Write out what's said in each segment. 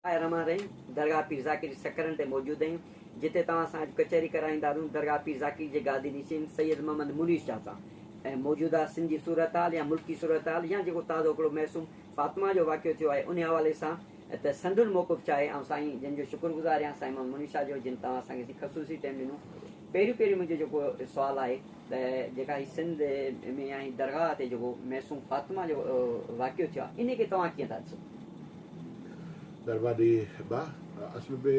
آء رمان رحيم درگاهه پير ذاڪر جي سڪرن تي موجود آهيون جتي توهان سان اڄ ڪچهري ڪرائيندارون درگاهه پير ذاڪر جي گادي نشين سيد محمد منير شاهه سان ۽ موجوده سنڌ جي صورتحال يا ملڪي صورتحال يا جيڪو تازو هڪڙو معصوم فاطمه جو واقعو ٿيو آهي انهي حوالي سان ته سندن موقف ڇا آهي آئون سائين جن جو شڪر گذار آهيان سائين محمد منير شاهه جو جن توهان اسان کي خصوصي ٽيم ڏنو پهريون پهريون منهنجو جيڪو سوال آهي ته جيڪا هي سنڌ ۾ يا هي درگاهه تي جيڪو معصوم فاطمه جو واقعو ٿيو آهي انهي کي توهان ڪيئن ٿا ڏسو؟ مھرباني با اصل ۾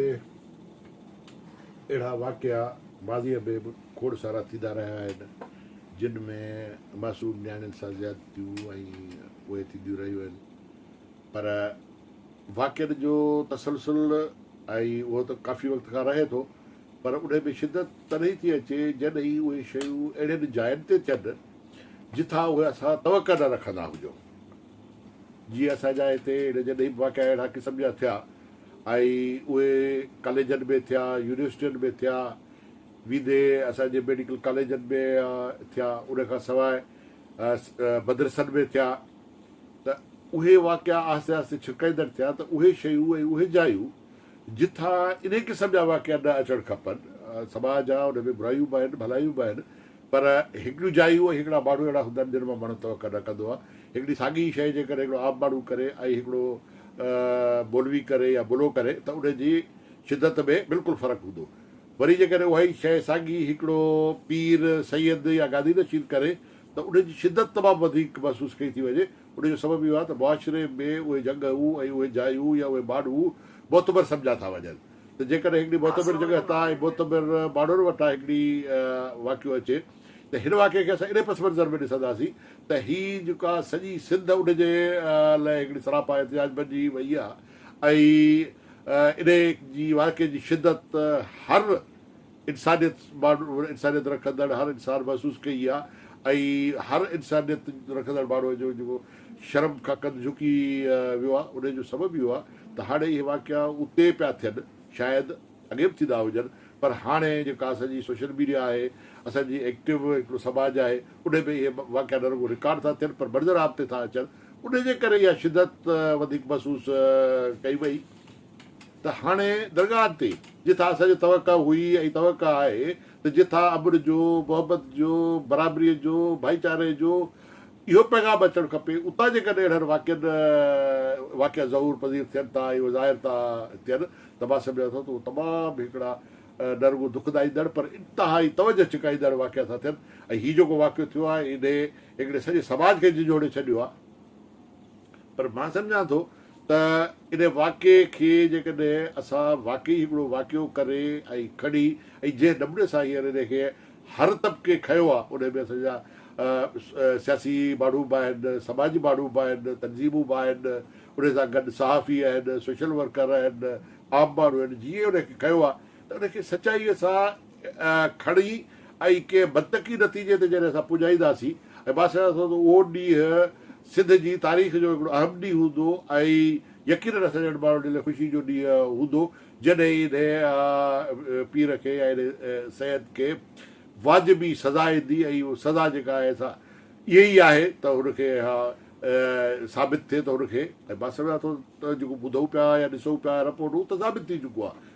اھڙا واقعا ماضيء ۾ به کوڙ سارا ٿيندا رھيا آھن جن ۾ معصوم نياڻين سان زيادتيون ۽ اھي ٿينديون رھيون آھن پر واقعن جو تسلسل ۽ اھو ته ڪافي وقت کان رھي ٿو پر انھي ۾ شدت تڏھن ٿي اچي جڏھن ئي اھي شيون اھڙين جاين تي ٿين جتان اھي اسان توقع نه رکندا ھجون جي اسان جا هتي اهڙي جڏهن به واقعا اهڙا قسم جا ٿيا ۽ اهي ڪاليجن ۾ ٿيا، يونيورسٽين ۾ ٿيا، ويندي اسان جي ميڊيڪل ڪاليجن ۾ ٿيا، ان کان سواء مدرسن ۾ ٿيا ته اهي واقعا آهستي آهستي ڇرڪائيندڙ ٿيا ته اهي شيون ۽ اهي جايون جتان انهي قسم جا واقعا نه اچڻ کپن، سماج آ ان ۾ برايون به آهن ڀلايون به آهن پر هڪڙيون جايون ۽ هڪڙا ماڻهو اهڙا هوندا آهن جن مان ماڻهو توقع نه ڪندو آهي. هڪڙي ساڳي ئي شيء جيڪڏهن هڪڙو عام ماڻهو ڪري ۽ هڪڙو مولوي ڪري يا ملو ڪري ته ان جي شدت ۾ بلڪل فرق هوندو. وري جيڪڏهن اها ئي شيء ساڳي هڪڙو پير، سيد يا گادي نشين ڪري ته ان جي شدت تمام وڌيڪ محسوس ڪئي ٿي وڃي. ان جو سبب اهو آهي ته معاشري ۾ اهي جڳهون ۽ اهي جايون يا اهي ماڻهو معتبر سمجهيا ٿا وڃن. ته جيڪڏهن هڪڙي معتبر جڳهه تان ۽ معتبر ماڻهن وٽان هڪڙي واقعو اچي ته هن واقعي کي اسان اهڙي پس منظر ۾ ڏسنداسين ته هي جيڪا سڄي سنڌ ان جي لئه هڪڙي سراپا احتجاج بنجي وئي آهي ۽ انهيء جي واقعي جي شدت هر انسانيت ماڻهو انسانيت رکندڙ هر انسان محسوس ڪئي آ ۽ هر انسانيت رکندڙ ماڻهو جو جيڪو شرم کان ڪنڌ جهڪي ويو آ انهي جو سبب اهو آ ته هاڻي اهي واقعا اتي پيا ٿين شايد اڳي به ٿيندا هجن پر هاڻي جيڪا اسان جي سوشل ميڊيا آهي اسان جي ايڪٽو هڪڙو سماج آهي انهي ۾ اهي واقعا نه رڳو رڪارڊ ٿا ٿين پر منظر عام تي ٿا اچن انهي جي ڪري اها شدت وڌيڪ محسوس ڪئي وئي. ته هاڻي درگاهه تي جٿا اسان جي توقع هئي ۽ توقع آهي ته جٿا امن جو، محبت جو، برابريء جو، ڀائيچاري جو اهو پيغام اچڻ کپي، اتان جيڪڏهن اهڙن واقعن واقعا ظهور پذير ٿين ٿا ۽ اهي ظاهر ٿا ٿين ته مان سمجهان ٿو ته اهي تمام هڪڙا نه رڳو دکدائيندڙ پر انتهائي توجهه ڇڪائيندڙ واقعا ٿا ٿين ۽ هي جيڪو واقعو ٿيو آهي انهي هڪڙي سڄي سماج کي جهنجهوڙي ڇڏيو آهي. پر مان سمجهان ٿو ته ان واقعي کي جيڪڏهن اسان واقعي هڪڙو واقعو ڪري ۽ کڻي ۽ جنهن نموني سان هينئر ان کي هر طبقي کنيو آهي ان ۾ اسان جا سياسي ماڻهو به آهن، سماجي ماڻهو به آهن، تنظيمون به آهن، ان سان گڏ صحافي آهن، سوشل ورڪر آهن، عام ماڻهو آهن، جيئن ان کي کنيو آهي ته ان کي سچائيء سان کڻي ۽ ڪنهن منطقي نتيجي تي جڏهن اسان پڄائينداسين ۽ مان سمجهان ٿو ته اهو ڏينهن سنڌ جي تاريخ جو هڪڙو اهم ڏينهن هوندو ۽ يقينن اسان جهڙن ماڻهن جي لاء خوشي جو ڏينهن هوندو جڏهن انهي پير کي يا انهي سيد کي واجبي سزا ايندي ۽ اهو سزا جيڪا آهي سا اهي ئي آهي ته هن کي اها ثابت ٿئي ته هن کي ۽ مان سمجهان ٿو ته جيڪو ٻڌون پيا يا ڏسون پيا رپورٽون ته ثابت ٿي چڪو آهي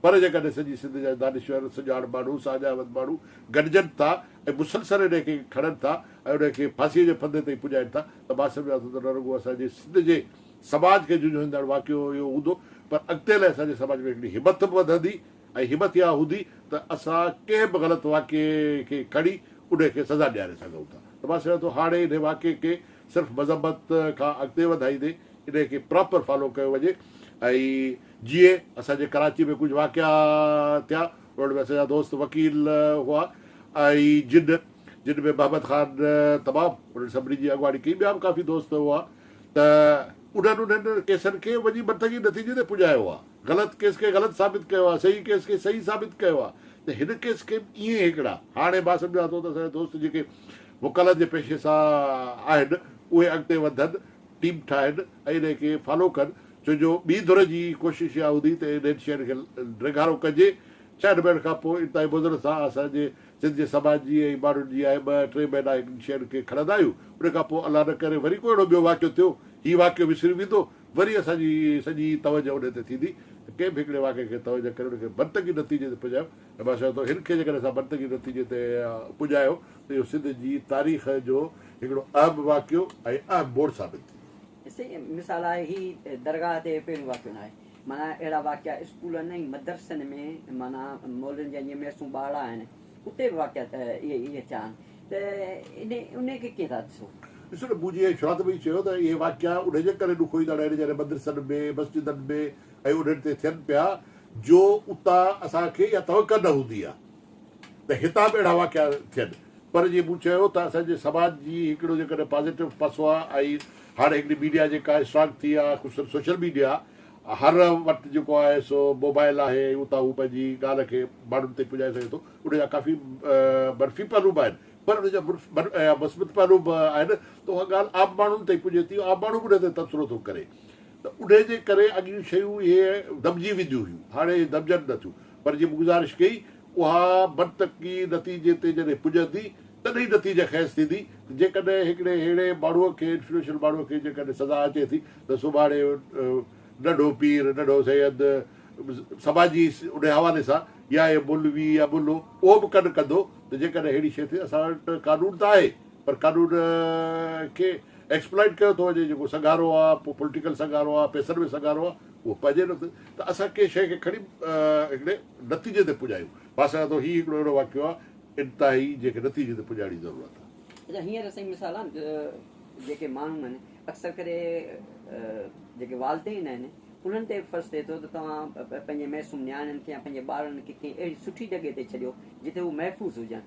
پر جيڪڏهن سڄي سنڌ جا دانشور، سڃاڻ ماڻهو، ساڃاهوت ماڻهو گڏجن ٿا ۽ مسلسل انهيء کي کڻن ٿا ۽ انهيء کي ڦاسيء جي ڦندي تائين پڄائين ٿا ته مان سمجهان ٿو ته نه رڳو اسان جي سنڌ جي سماج کي جهنجهوئيندڙ واقعو اهو هوندو پر اڳتي لاء اسان جي سماج ۾ هڪڙي همٿ به وڌندي ۽ همٿ اها هوندي ته اسان ڪنهن به غلط واقعي کي کڻي انهيء کي سزا ڏياري سگهون ٿا ته مان سمجهان ٿو هاڻي انهيء واقعي کي صرف مذمت کان اڳتي وڌائيندي انهيء کي پراپر فالو ڪيو وڃي ۽ جيئي اسان جي ڪراچي ۾ ڪجهه واقعا ٿيا انهن ۾ اسان جا دوست وڪيل هئا ۽ جن جن ۾ محمد خان تمام انهن سڀني جي اڳواڻي ڪئي ٻيا به ڪافي دوست هئا ته انهن انهن ڪيسن کي وڃي منطقي نتيجي تي پڄايو آ غلط ڪيس کي غلط ثابت ڪيو آ صحيح ڪيس کي صحيح ثابت ڪيو آ ته هن ڪيس کي به ائين هڪڙا هاڻي مان سمجهان ٿو ته اسان جا دوست جيڪي وڪالت جي پيشي سان آهن اهي اڳتي وڌن ٽيم ٺاهن ۽ انهي کي فالو ڪن ڇو جو ٻي ڌر جي هي ڪوشش اها هوندي ته انهن شين کي ڊيگهارو ڪجي ڇهن مهينن کان پوء انتهائي مضر سان اسان جي سنڌ جي سماج جي ۽ ماڻهن جي آهي ٻه ٽي مهينا انهن شين کي کڻندا آهيون انهي کان پوء الله نه ڪري وري ڪو اهڙو ٻيو واقعو ٿيو هي واقعو وسري ويندو وري اسان جي سڄي توجه انهي تي ٿيندي ته ڪنهن به هڪڙي واقعي کي توجه ڪري ان کي منطقي نتيجي تي پڄايو نواز شاهه ٿو هن کي جيڪڏهن اسان منطقي نتيجي تي پڄايو ته اهو سنڌ جي تاريخ جو هڪڙو اهم واقعو ۽ اهم موڙ ثابت ٿيندو. سائين مثال آهي هي درگاهه تي پهريون واقعو ناهي معنيٰ اهڙا واقعا اسڪولن ۽ مدرسن ۾ معنيٰ مولوين جا جيئن ميسون ٻارڙا آهن اتي به واقعا ته اهي ٿيا آهن ته انهي کي ڪيئن ٿا ڏسو. ڏسو نه مون جيئن شروعات ۾ ئي چيو ته اهي واقعا انهي جي ڪري ڏکوئيندڙ آهن جڏهن مدرسن ۾ مسجدن ۾ ۽ انهن تي ٿين پيا جو اتان اسان کي اها توقع نه هوندي آهي ته هتان به اهڙا واقعا ٿين پر جيئن مون چيو ته اسان جي سماج جي هڪڙو جيڪڏهن پازيٽو پاسو آهي ۽ هاڻي هڪڙي ميڊيا جيڪا اسٽرانگ ٿي آهي خصوصن سوشل ميڊيا هر وٽ جيڪو آهي سو موبائل آهي ۽ اتان هو پنهنجي ڳالهه کي ماڻهن تائين پڄائي سگهي ٿو ان جا ڪافي منفي پهلو به آهن پر ان جا مثبت پهلو به آهن ته اها ڳالهه عام ماڻهن تائين پڄي ٿي عام ماڻهو به ان تي تبصرو ٿو ڪري ته انهيء جي ڪري اڳيون شيون اهي دٻجي وينديون هيون، هاڻي اهي دٻجن نه ٿيون، پر جي مون گذارش ڪئي، اها منطقي نتيجي تي جڏهن پڄندي، تڏهن ئي نتيجه خيز ٿيندي ته جيڪڏهن هڪڙي ههڙي ماڻهوء کي، انفلوئنشل ماڻهوء کي جيڪڏهن سزا اچي ٿي ته سڀاڻي ننڍو پير، ننڍو سيد، سماجي انهيء حوالي سان يا اهي مولوي يا ملو اهو به ڪن ڪندو ته جيڪڏهن ههڙي شيء ٿي، اسان وٽ قانون ته آهي، پر ڪاڏو نه کي ايڪسپلائيٽ ڪيو ٿو وڃي جيڪو سگهارو آ پو پولٽيڪل سگهارو آ پيسن ۾ سگهارو آ اهو پنهنجي نه ٿي ته اسان ڪنهن شيء کي کڻي هڪڙي نتيجي تي پڄايون مان سمجهان ٿو هي هڪڙو اهڙو واقعو آ انتهائي جنهن کي نتيجي تي پڄائڻ جي ضرورت آ. اچا هينئر سائين مثال آ جيڪي ماڻهون آهن اڪثر ڪري جيڪي والدين آهن انهن تي به فرض ٿئي ٿو ته توهان پنهنجي معصوم نياڻين کي يا پنهنجي ٻارڙن کي ڪنهن اهڙي سٺي جڳهه تي ڇڏيو جتي هو محفوظ هجن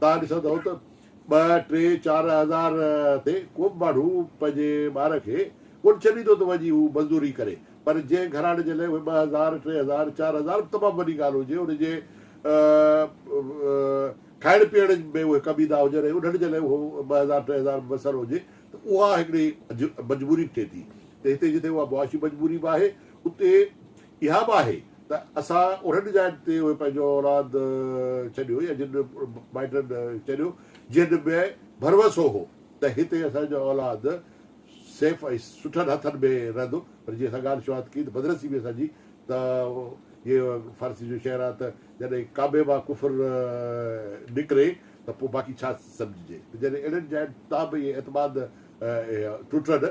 توهان ڏسندئو ته ٻه، ٽي، چار هزار تي ڪو به ماڻهو پنهنجي ٻار کي ڪونه ڇڏيندو ته وڃي هو مزدوري ڪري پر جنهن گهراڻي جي لاء اهي ٻه هزار، ٽي هزار، چار هزار به تمام وڏي ڳالهه هجي ان جي کائڻ پيئڻ ۾ اهي ڪم ايندا هجن ۽ انهن جي لاء اهو ٻه هزار، ٽي هزار به ميسر هجي ته اها هڪڙي مجبوري به ٿئي ٿي ته هتي جتي اها معاشي مجبوري به آهي اتي اها به آهي ته اسان انهن جاين تي اهي پنهنجو اولاد ڇڏيو يا جن مائٽن چريو جنهن ۾ ڀروسو هو ته هتي اسان جو اولاد سيف ۽ سٺن هٿن ۾ رهندو پر جيئن اسان ڳالهه شروعات ڪئي ته بدنصيبي به اسان جي ته جيئن فارسي جو شعر آهي ته جڏهن ڪعبي مان ڪفر نڪري ته پوء باقي ڇا سمجهجي ته جڏهن اهڙين جاين تان به اهي اعتماد ٽٽن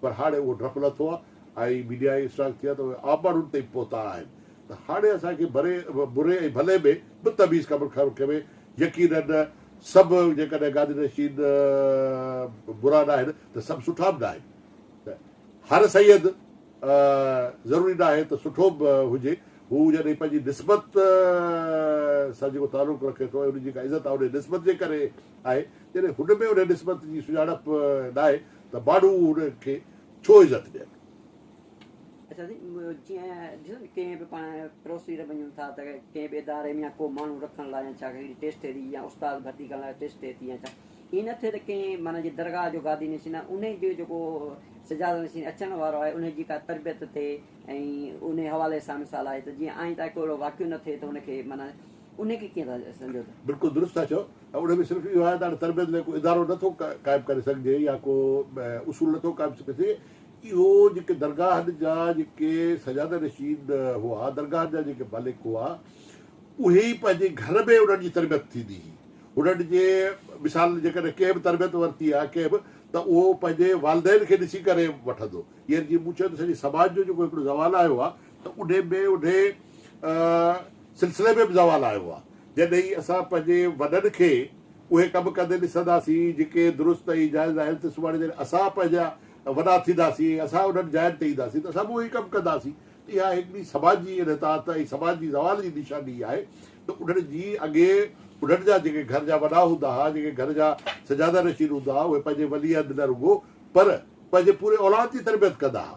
پر هاڻي اهو ڊپ لٿو آهي ۽ ميڊيا ائين اسٽرانگ ٿي آهي ته اهي عام ماڻهن تائين پهتا آهن ته هاڻي اسان کي بري بري ۽ ڀلي ۾ به تميز ڪم کڻڻ کپي يقيناً سڀ جيڪڏهن گادي نشين برا ناهن ته سڀ سٺا به ناهن ته هر سيد ضروري ناهي ته سٺو به هجي هو جڏهن پنهنجي نسبت سان جيڪو تعلق رکي ٿو ۽ ان جي جيڪا عزت آهي ان نسبت جي ڪري آهي جڏهن هن ۾ ان نسبت جي سڃاڻپ ناهي ته باڊو ان کي ڇو عزت ڏين. اچا سائين جيئن ڏسو نھ ڪنھن بھ پاڻ پروسي تي وڃون ٿا تھ ڪنھن بھ اداري ۾ يا ڪو ماڻھو رکڻ لاء يا ڇا ڪھڙي ٽيسٽ ٿئي ٿي يا استاد ڀرتي ڪرڻ لاء ٽيسٽ ٿئي ٿي يا ڇا ائين نھ ٿئي تھ ڪنھن معنيٰ جي درگاھ جو گادي نشين آھي انھيء جو جيڪو سجاده نشين اچڻ وارو آھي انھيء جي ڪا تربيت ٿئي ۽ انھيء حوالي سان مثال آھي تھ جيئن آئنده ڪو اھڙو واقعو نھ ٿئي تھ ان کي معنيٰ انهيء کي ڪيئن ٿا سمجهو ته. بلڪل درست ٿا چئو ۽ انهيء ۾ صرف اهو آهي ته هاڻي تربيت لاء ڪو ادارو نه ٿو قائم ڪري سگهجي يا ڪو اصول نه ٿو قائم ڪري سگهجي اهو جيڪي درگاهن جا جيڪي سجاده نشين هئا درگاهن جا جيڪي مالڪ هئا اهي ئي پنهنجي گهر ۾ انهن جي تربيت ٿيندي هئي انهن جي مثال جيڪڏهن ڪنهن به تربيت ورتي آهي ڪنهن به ته اهو پنهنجي والدين کي ڏسي ڪري وٺندو يعنيٰ جيئن مون چيو ته سڄي سماج جو جيڪو هڪڙو زوال آيو آهي ته انهي ۾ انهي سلسلي ۾ به زوال آيو آهي. جڏهين اسان پنهنجي وڏن کي اهي ڪم ڪندي ڏسنداسين جيڪي درست ۽ جائز آهن ته سڀاڻي جڏهن اسان پنهنجا وڏا ٿينداسين ۽ اسان انهن جاين تي اينداسين ته اسان به اهي ئي ڪم ڪنداسين ته اها هڪڙي سماج جي انحطاط ۽ سماج جي زوال جي نشاني ئي آهي ته انهن جي اڳي انهن جا جيڪي گهر جا وڏا هوندا ها جيڪي گهر جا سجاده نشين هوندا ها اهي پنهنجي ولي عهد نه رڳو پر پنهنجي پوري اولاد جي تربيت ڪندا ها.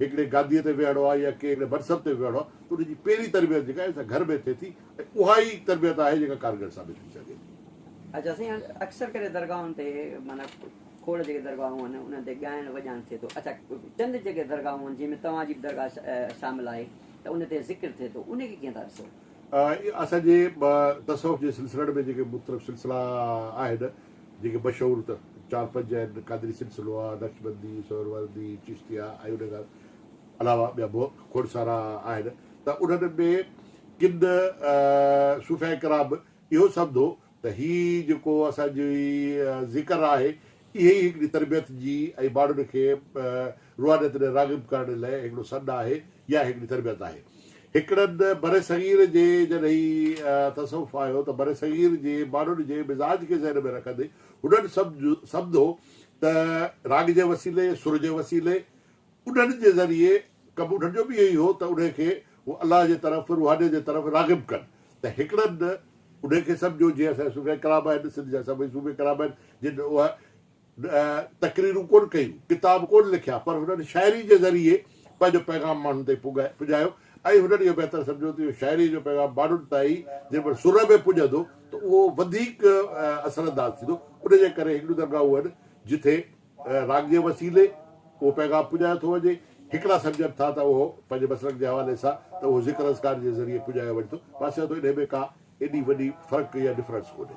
هڪڙي گاديء تي ويهڙو آهي يا ڪنهن هڪڙي منصب تي ويهڙو آهي ته ان جي پهرين تربيت جيڪا آهي سا گهر ۾ ٿئي ٿي ۽ اها ئي تربيت آهي جيڪا ڪارگر ثابت ٿي سگهي ٿي. اچا سائين هاڻي اڪثر ڪري درگاهن تي معنيٰ کوڙ جيڪي درگاهون آهن انهن تي ڳائڻ وڄائڻ ٿئي ٿو اچا چند جيڪي درگاهون آهن جنهن ۾ توهان جي به درگاهه شامل آهي ته ان تي ذڪر ٿئي ٿو انهي کي ڪيئن ٿا ڏسو؟ اسان جي تصوف جي سلسلن ۾ جيڪي مختلف سلسلا آهن جيڪي مشهور ته چار پنج آهن، قادري سلسلو آهي، نقشبندي، سهروردي، چشتي آهي ۽ انهن کان علاوه ٻيا به کوڙ سارا آهن ته انهن ۾ ڪن صوفياء ڪرام به اهو سمڌو ته هي جيڪو اسان جي ذڪر آهي اهي ئي هڪڙي تربيت جي ۽ ماڻهن کي روحانيت ڏي راغب ڪرڻ لئه هڪڙو سڏ آهي اها هڪڙي تربيت آهي. هڪڙن برصغير جي جڏهن هي تصوف آيو ته برصغير جي ماڻهن جي مزاج کي ذهن ۾ رکندي هنن سمجهو ته راڳ جي وسيلي، سر جي وسيلي، انهن جي ذريعي ڪم انهن جو به اهو ئي هو ته انهي کي هو الله جي طرف، روحانيت جي طرف راغب ڪن ته هڪڙن انهي کي سمجهو جيئن اسان جا صوفياء ڪرام آهن، سنڌ جا سڀئي صوفي ڪرام آهن جن اها تقريرون ڪونه ڪيون، ڪتاب ڪونه لکيا پر هنن شاعري جي ذريعي پنهنجو پيغام ماڻهن تائين پڄايو ۽ هنن اهو بهتر سمجهيو ته اهو شاعري جو پيغام ماڻهن تائين جيڪڏهن سر ۾ پڄندو ته اهو وڌيڪ اثر انداز ٿيندو ان جي ڪري هڪڙيون درگاهون آهن جتي راڳ جي وسيلي اهو پيغام پڄايو ٿو وڃي هڪڙا سمجهن ٿا ته اهو پنهنجي مسلڪ جي حوالي سان ته اهو ذڪر اذڪار جي ذريعي پڄايو وڃي ٿو مان سمجهان ٿو انهي ۾ ڪا ايڏي وڏي فرق يا ڊفرنس ڪونهي.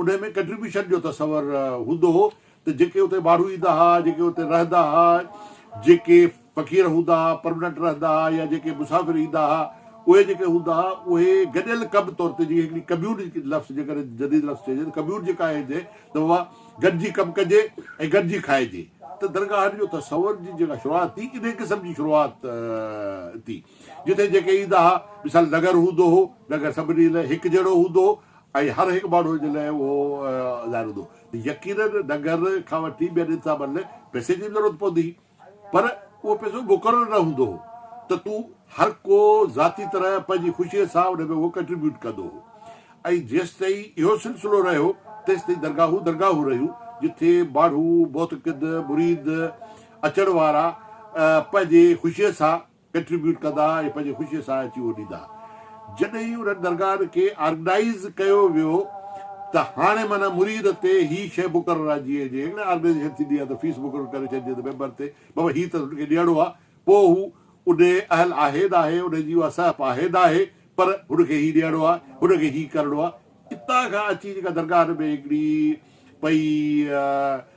انهيء ۾ ڪنٽريبيوشن جو تصور هوندو هو ته جيڪي اتي ماڻهو ايندا ها، جيڪي اتي رهندا ها، جيڪي فقير هوندا ها، پرمننٽ رهندا ها يا جيڪي مسافر ايندا ها، اهي جيڪي هوندا ها، اهي گڏيل ڪم طور تي جيئن هڪڙي ڪميون لفظ جيڪڏهن جديد لفظ چئجي ته ڪميون جيڪا آهي جنهن ته اها گڏجي ڪم ڪجي ۽ گڏجي کائجي ته درگاهن جو تصور جي جيڪا شروعات ٿي انهيء قسم جي شروعات ٿي جتي جيڪي ايندا ها مثال نگر هوندو هو، نگر سڀني لاء هڪ جهڙو هوندو هو، ۽ هر هڪ ماڻهو جي لاء اهو ظاهر هوندو ته يقيناً ننگر کان وٺي ٻين انتظامن لاء پئسي جي به ضرورت پوندي هئي پر اهو پئسو مقرر نه هوندو هو ته تون هر ڪو ذاتي طرح پنهنجي خوشيء سان ان ۾ اهو ڪنٽريبيوٽ ڪندو هو ۽ جيستائين اهو سلسلو رهيو تيستائين درگاهون درگاهون رهيون جتي ماڻهو معتقد مريد اچڻ وارا پنهنجي خوشيء سان ڪنٽريبيوٽ ڪندا ۽ پنهنجي خوشي سان اچي اهو ڏيندا جڏهن انهن درگاهن کي آرگنائيز ڪيو ويو ته هاڻي معنيٰ مريد تي هي شيء مقرر آهي جيئن جي ڪڏهن آرگنائيزيشن ٿيندي آهي ته فيس مقرر ڪري ڇڏجي ته ميمبر تي بابا هي ته هن کي ڏيڻو آهي پوء هو انهي اهل آهي ناهي انهي جي اها سهپ آهي ناهي پر هن کي هي ڏيڻو آهي هن کي هي ڪرڻو آهي اتان کان اچي جيڪا درگاهن ۾ هڪڙي پئي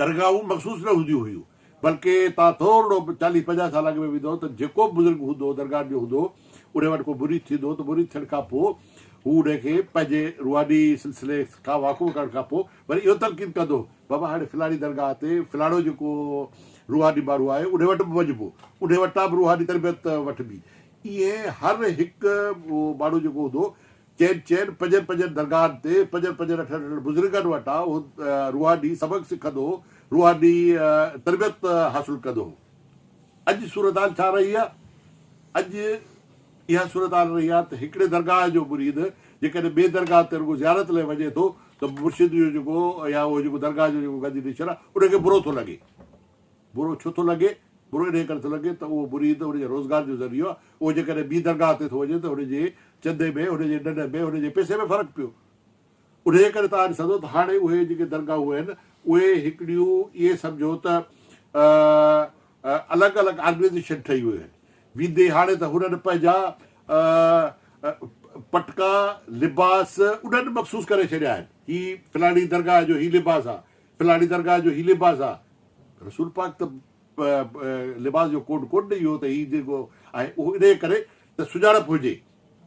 درگاهون مخصوص نه هونديون هيون، بلڪ توهان ٿورڙو چاليهه پنجاهه سال اڳ ۾ ويندؤ ته جيڪو به بزرگ هوندو هو درگاهن جو هوندو هو، ان وٽ ڪو مريد ٿيندو هو ته مريد ٿيڻ کان پوء هو ان کي پنهنجي روحاني سلسلي کان واقف ڪرڻ کان پوء وري اهو تلقين ڪندو هو، بابا هاڻي فلاڻي درگاهه تي فلاڻو جيڪو روحاني ماڻهو آهي ان وٽ به وڃبو، ان وٽان به روحاني تربيت وٺبي، ائين هر هڪ ماڻهو جيڪو هوندو هو چين چين پنجن پنجن درگاهن تي پنجن پنجن اٺن اٺن بزرگن وٽان اهو روحاني سبق سکندو هو، روحاني تربيت حاصل ڪندو هو. اڄ صورتحال ڇا رهي آهي؟ اڄ اها صورتحال رهي آهي ته هڪڙي درگاهه جو مريد جيڪڏهن ٻي درگاهه تي رڳو زيارت لاء وڃي ٿو ته مرشد جو جيڪو يا اهو جيڪو درگاهه جو جيڪو گدي نشين آهي ان کي برو ٿو لڳي. برو ڇو ٿو لڳي؟ برو انهيء ڪري ٿو لڳي ته اهو مريد، ان جي روزگار جو ذريعو آهي، اهو جيڪڏهن ٻي درگاهه تي ٿو وڃي ته هن جي چندي ۾، هن جي ڏنڊ ۾، هن جي پئسي ۾ فرق پيو. انهيء ڪري توهان ڏسندا ته هاڻي اهي جيڪي درگاهون آهن، اهي هڪڙيون ائين سمجهو ته الڳ الڳ آرگنائيزيشن ٺهي ويون آهن. ويندي هاڻي ته هنن پنهنجا پٽڪا، لباس، انهن مخصوص ڪري ڇڏيا آهن. هي فلاڻي درگاهه جو هي لباس آهي، پلاڻي درگاهه جو هي لباس آ. رسول پاڪ ته لباس جو ڪوڊ ڪونه ڏئي هو ته هي جيڪو آهي اهو انهيء ڪري ته سڃاڻپ هجي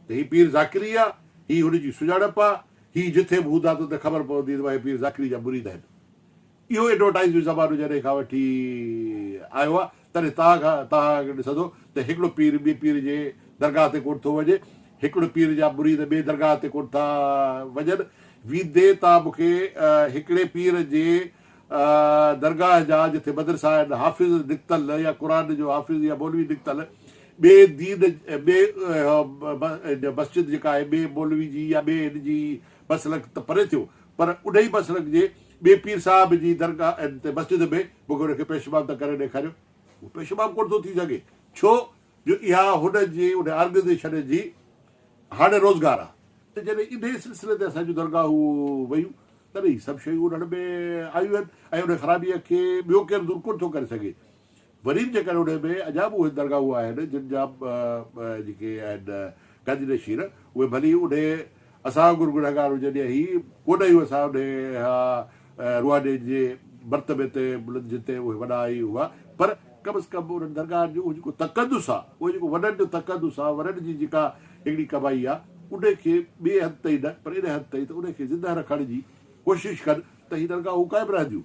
ته هي پير ذاڪري آ، هي هن جي سڃاڻپ آ، هي جٿي به هوندا ته ته خبر پوندي ته اهي پير ذاڪري جا مريد آهن. اهو ايڊورٽائيز جو زمانو جڏهن کان وٺي آيو آ تڏهن تاء کان تاء کي ڏسندو ته هڪڙو پير ٻئي پير جي درگاهه تي ڪوٺ ٿو وڃي، هڪڙو پير جا مريد ٻئي درگاهه تي ڪوٺ ٿا وڃن، ويندي تان مون کي هڪڙي پير جي درگاهه جا جٿي مدرسا آهن، حافظ نڪتل يا قرآن جو حافظ يا مولوي نڪتل، ٻئي دين ٻئي مسجد جيڪا آهي ٻئي مولوي جي يا ٻئي هن جي مسلڪ ته پري ٿيو پر انهي مسلڪ جي ٻئي پير صاحب جي درگاهه ۽ تي مسجد ۾ مونکي ان کي پيش امام تان ڪري ڏيکاريو. هو پيش امام ڪونه ٿو ٿي سگهي، ڇو جو اها هن جي ان آرگنائيزيشن جي هاڻي روزگار آ. ته جڏهن انهيء سلسلي تي اسان جون درگاهون ويون، تڏهن هي سڀ شيون انهن ۾ آيون آهن ۽ انهيء خرابيء کي ٻيو ڪير دور ڪونه ٿو ڪري سگهي. وري به جيڪڏهن انهيء ۾ اڃا به اهي درگاهون آهن جن جا جيڪي آهن گنج نشين اهي ڀلي انهيء اسان وانگر گنهگار هجن يا هي ڪونه اهو اسان انهيء اها روحانين جي مرتبي تي بلند جتي اهي وڏا ۽ هئا پر ڪم از ڪم انهن درگاهن جو اهو جيڪو تقدس آهي اهو جيڪو وڏن جو تقدس آهي وڏن جي جيڪا هڪڙي ڪمائي آهي انهيء کي ٻئي هنڌ تائين نه پر انهيء هنڌ تائين ته انهيء کي زنده رکڻ جي ڪوشش ڪن ته هي درگاهون قائم رهنديون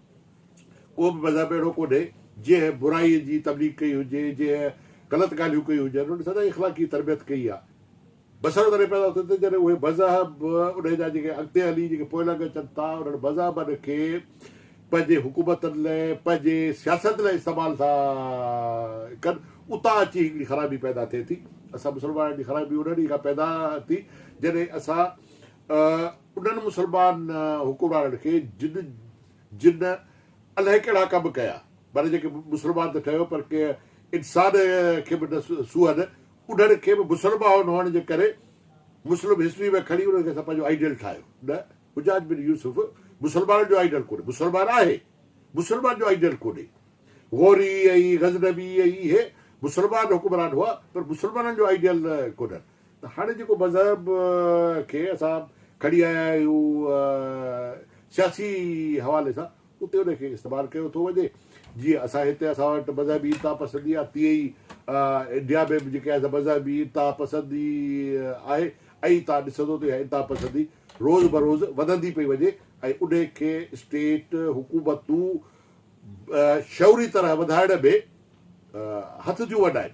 ڪو به مذهب اهڙو ڪونهي جنهن برائي جي تبليغ ڪئي هجي، جنهن غلط ڳالهيون ڪيون هجن، انهن سدائين اخلاقي تربيت ڪئي آهي. بسرو تڏهن پيدا ٿو ٿئي جڏهن اهي مذهب انهن جا جيڪي اڳتي هلي جيڪي پوئلڳ اچن ٿا انهن مذهبن کي پنهنجي حڪومتن لاء پنهنجي سياست لاء استعمال ٿا ڪن اتان اچي هڪڙي خرابي پيدا ٿئي ٿي اسان مسلمانن جي خرابي انهن ئي کان پيدا ٿي جڏهن اسان انهن مسلمان حڪمرانن کي جن جن الائي ڪهڙا ڪم ڪيا، معنيٰ جيڪي مسلمان ته ٺهيو پر ڪنهن انسان کي به نه سونهن، انهن کي به مسلمان هئڻ جي ڪري مسلم هسٽري ۾ کڻي انهن کي اسان پنهنجو آئيڊيل ٺاهيو. نه، حجاج بن يوسف مسلمانن جو آئيڊيل ڪونهي، مسلمان آهي، مسلمان جو آئيڊيل ڪونهي. غوري ۽ غزنوي ۽ اهي مسلمان حڪمران هئا پر مسلمانن جو آئيڊيل ڪونهن. ته هاڻي جيڪو مذهب کي اسان کڻي آيا آهيون سياسي حوالي سان اتي ان کي استعمال ڪيو ٿو وڃي جيئن اسان هتي اسان وٽ مذهبي انتها پسندي آهي تيئن ئي انڊيا ۾ به جيڪي آهي مذهبي انتها پسندي آهي ۽ تان ڏسندو ته اها انتها پسندي روز بروز وڌندي پئي وڃي ۽ ان کي اسٽيٽ حڪومتون شعوري طرح وڌائڻ ۾ هٿ ٿيون وڏائين.